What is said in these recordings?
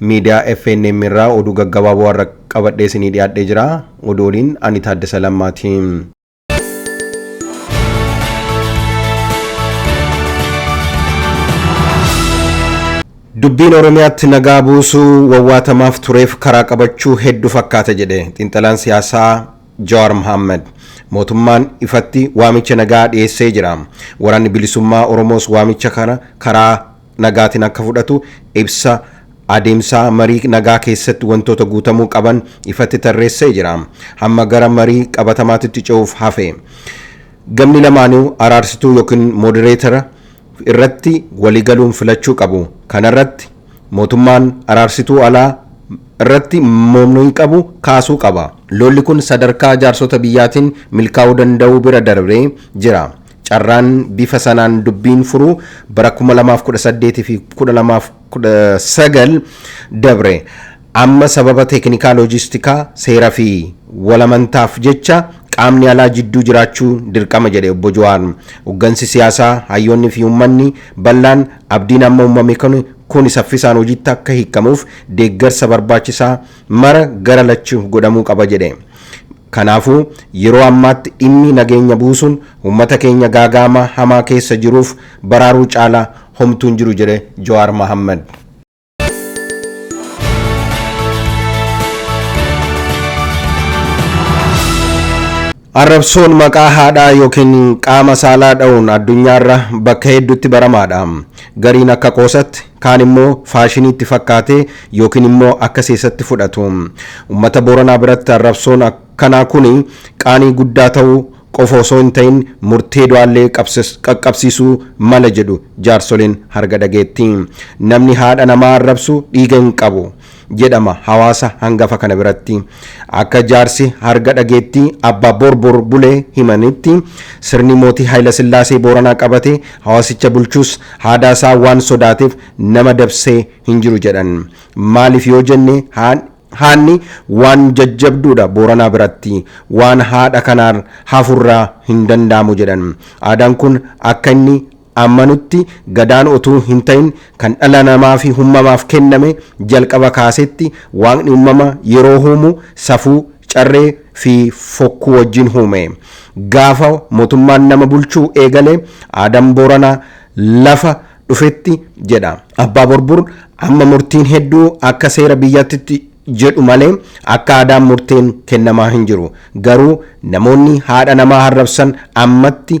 Miidiyaa FNM irraa oduu gaggabaaboo har'a qabadhee isinii dhiyaadhee jira. Oduu waliin ani Taaddasa Lammaati. Dubbiin Oromiyaatti nagaa buusuu wawwaatamaaf tureef karaa qabachuu hedduu fakkaata jedhe xiinxalaan siyaasaa Jawaar Mohaammed. Mootummaan ifatti waamicha nagaa dhiyeessee jira. Waraanni bilisummaa Oromoos waamicha kana karaa nagaatiin akka fudhatu ibsa adeemsaa marii nagaa keessatti wantoota guutamuu qaban ifatti tarreessee jira. Hamma gara marii qabatamaatitti ce'uuf hafe. Gamni lamaanuu araarsituu yookiin modereetara irratti waliigaluun filachuu qabu. Kanarratti mootummaan araarsituu alaa irratti mormii qabu kaasuu qaba. Lolli kun sadarkaa jaarsota biyyaatiin milkaa'uu danda'uu bira darbee jira. Carraan bifa sanaan dubbiin furuu bara 2018 fi 2019 dabre. Amma sababa teeknikaa loojistikaa, seera fi walamantaaf jecha qaamni alaa jidduu jiraachuu dirqama jedhe Obbo Jawaar. Hoggansi siyaasaa, hayyoonni fi uummanni bal'aan abdiin amma uumame kuni saffisaan hojiitti akka hiikkamuuf deeggarsa barbaachisaa mara gara lachu godhamuu qaba jedhe. Kanaafuu, yeroo ammaatti dhimmi nageenya buusuun uummata keenya gaaga'ama hamaa keessa jiruuf baraaruu caalaa homtuu hin jiru jedhe Jawaar Mahaammad. Arrabsoon maqaa haadhaa yookiin qaama saalaa dha'uun addunyaarra bakka hedduutti baramaadha. Gariin akka qoosatti Kaan immoo faashinii itti fakkaatee yookiin immoo akka seesatti fudhatu. Ummata Booranaa biratti arrabsoon akkanaa kuni qaanii guddaa ta'uu qofa osoo hin ta'in murtee du'aallee qaqqabsiisuu mala jedhu jaarsoleen harga dhageettii. Namni haadha namaa arrabsu dhiiga hin qabu. jedhama hawaasa hangafa kana biratti. Akka jaarsi harga dhageettii Abbaa Borbor Bulee himanitti, sirni Mootii Hayilasillaasee Booranaa qabate hawaasicha bulchus haadaa isaa waan sodaateef nama dabsee hin jiru jedhan. Maaliif yoo jenne haadni waan jajjabduudha Booranaa biratti. Waan haadha kanaan hafurraa hin danda'amu jedhan. Aadaan kun akka inni amanutti Gadaan otuu hintahin kan dhala namaafi hummamaaf kenname jalqaba kaasetti Waaqni ummama yeroo huumu safuu, carree, fi fokkuu wajjin huume. Gaafa motummaan nama bulchuu eegale Aadam Booranaa lafa dhufetti jedha Abbaa Borbur amma murtiin hedduu akka seera biyyattitti jedhu malee akka aadaan murteen kennamaa hinjiru. Garuu namoonni haadha namaa harrabsan ammatti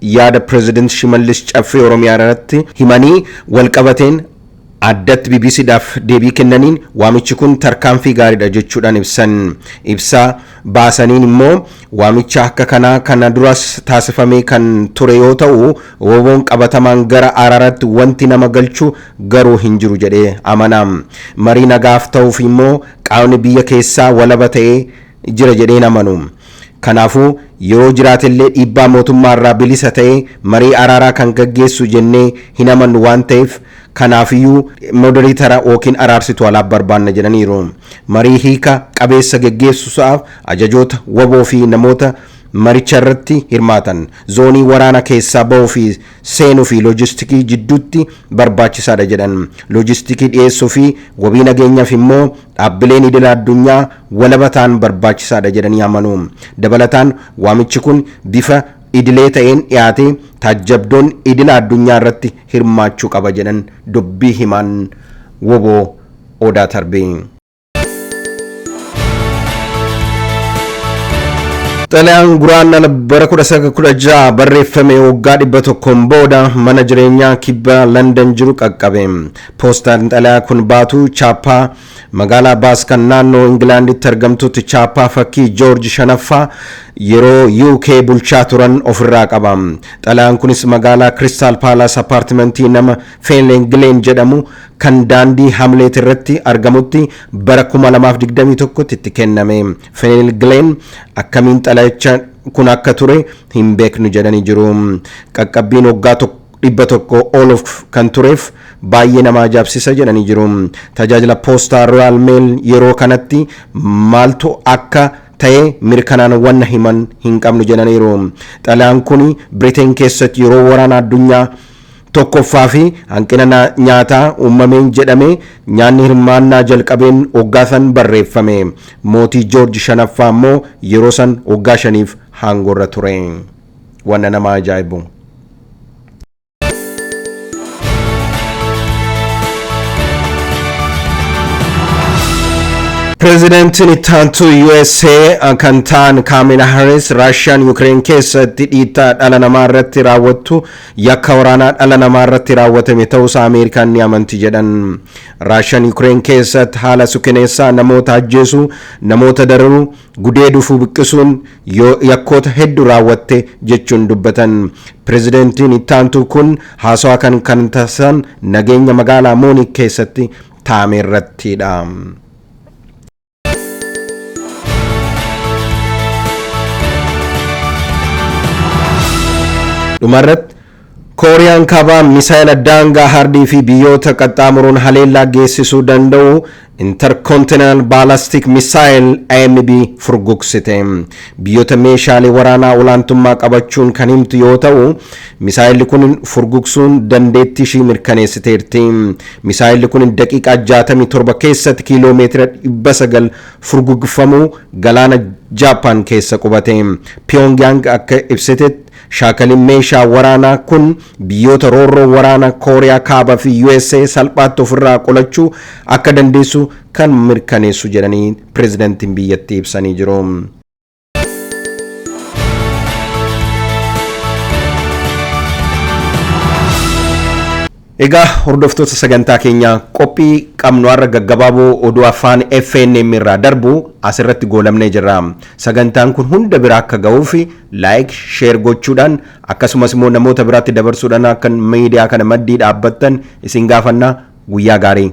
yaada Pireezidant Shimallis Caffee Oromiyaarratti himanii walqabateen addatti BBCdhaaf deebii kennaniin waamichi kun tarkaanfii gaariidha jechuudhaan ibsan. Ibsa baasaniin immoo waamicha akka kanaa kana duras taasifamee kan ture yoo ta'u, WBOn qabatamaan gara araaraatti wanti nama galchu garuu hin jiru jedhee amana. Marii nagaaf ta'uuf immoo qaamni biyya keessaa walaba ta'ee jira jedhee hin amanu. Kanaafuu, yeroo jiraatellee dhiibbaa mootummaarraa bilisa ta'ee marii araaraa kan gaggeessu jennee hin amannu waan ta'eef kanaafiyyuu moderiitara ykn araarsituu alaaf barbaanna jedhaniiru. Marii hiika qabeessa geggeessusaaf ajajoota wbo fi namoota maricharratti hirmaatan, zoonii waraana keessaa bahuu fi seenuu fi loojistikii jidduutti barbaachisaadha jedhan. Loojistikii dhiyeessuu fi wabii nageenyaaf immoo dhaabbileen idila addunyaa walaba ta'an barbaachisaadha jedhanii amanu. Dabalataan waamichi kun bifa idilee ta'een dhiyaatee taajjabdoon idila addunyaa irratti hirmaachuu qaba jedhan dubbii himaan wbo Odaa Tarbee. Xalayaan Guraandhala bara 1916 barreeffame waggaa 100n booda mana jireenyaa kibba Landan jiru qaqqabe. Poostaan xalayaa kun baatu chaappaa magaalaa Baas kan naannoo Ingilaanditti argamtutti chaappaa fakkii Joorji shanaffaa yeroo UK bulchaa turan ofirraa qaba. Xalayaan kunis magaalaa Kiristaal Paalaas appaartimentii nama Feenleen Gileen jedhamu kan daandii Hamleet irratti argamutti bara 2021tti itti kenname. Feeneel Gileen akkamiin xalayicha kun akka ture hin beeknu jedhanii jiru. Qaqqabbiin waggaa tokko 100 ol of kan tureef baay'ee nama ajaabsisa jedhanii jiru. Tajaajila poostaa Royal Mail yeroo kanatti maaltu akka ta'e mirkanaan wanna himan hin qabnu jedhaniiru. Xalayaan kun Briteen keessatti yeroo waraana addunyaa tokkoffaa fi hanqina na- nyaataa uumameen jedhame nyaanni hirmaannaa jalqabeen oggaa san barreeffame. Mootii Joorji shanaffaa immoo yeroo san oggaa shaniif haangorra ture. wanna nama ajaa'ibbu. Pireezidantiin itti aantuu USA kan ta'an Kaamila Harris Raashiyaan Yukireen keessatti dhiittaa dhala namaa irratti raawwattu yakka waraanaa dhala namaa irratti raawwatame ta'uusaa Ameerikaan ni amanti jedhan. Raashiyaan Yukireen keessatti haala suukaneessaa namoota ajjeesuu, namoota dararuu, gudeeduufuu buqqisuun yoo yakkoota heddu raawwatte jechuun dubbatan. Pirezidantiin ittaantuu kun haasawaa kan kan taasisan nageenya magaalaa Muuniik keessatti taa'ame irrattiidha. Dhumarratti Kooriyaan Kaabaa misaayila daangaa hardii fi biyyoota qaxxaamuruun haleellaa geessisuu danda'u Intercontinental Ballistic Missile, IMB, furgugsite. Biyyoota meeshaalee waraanaa olaantummaa qabachuun kan himtu yoo ta'u, misaayilli kun furgugsuun dandeettii ishii mirkaneessiteerti. Misaayilli kun daqiiqaa 67 keessatti kiiloo meetira 900 furgugfamuu galaana Jaappaan keessa qubate. Pyongyang akka ibsitetti, Shaakalin meeshaa waraanaa kun biyyoota roorroo waraana Kooriyaa Kaaba fi usa salphaatti ofirraa qolachuu akka dandeessu kan mirkaneessu jedhanii pirezidantiin biyyattii ibsanii jiru. Egaa hordoftoota sagantaa keenyaa qophii qabnu har'a gaggabaaboo oduu afaan FNM irraa darbu asirratti goolabnee jirra. Sagantaan kun hunda bira akka ga'uuf laayik, sheer gochuudhaan akkasumas immoo namoota biraatti dabarsuudhaan akka miidiyaa kana maddii dhaabbattan isin gaafanna guyyaa gaarii.